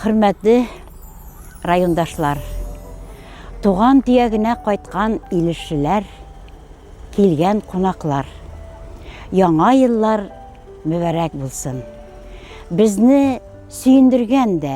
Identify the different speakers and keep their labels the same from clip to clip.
Speaker 1: Хөрмәтле райондашлар, туган төягенә кайткан илешчеләр, килгән кунаклар. Яңа еллар мөбәрәк булсын. Безне сөендергән дә,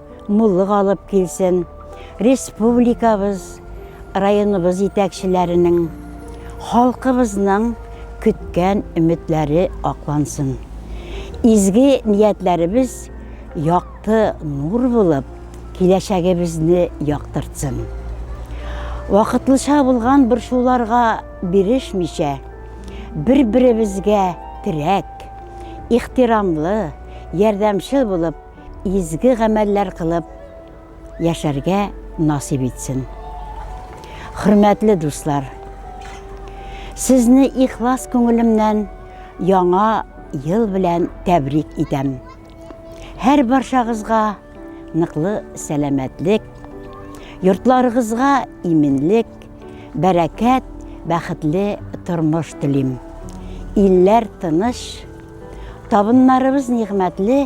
Speaker 1: муллык алып килсен. Республикабыз, районыбыз җитәкчеләренең, халкыбызның көткән өметләре аклансын. Изге ниятләребез якты нур булып, киләчәгебезне яктыртсын. Вакытлыча булган борчуларга бирешмичә, бер-беребезгә терәк, ихтирамлы, ярдәмчел булып, Изге гамәлләр кылып яшәргә насыйп итсен. Хөрмәтле дуслар, сезне ихлас күңелемнән яңа ел белән тәбрик итәм. Һәр баршагызга ныклы сәламәтлек, йортларыгызга иминлек, бәрәкәт, бәхетле тормыш телим. Илләр тыныч, табыннарыбыз нигъмәтле,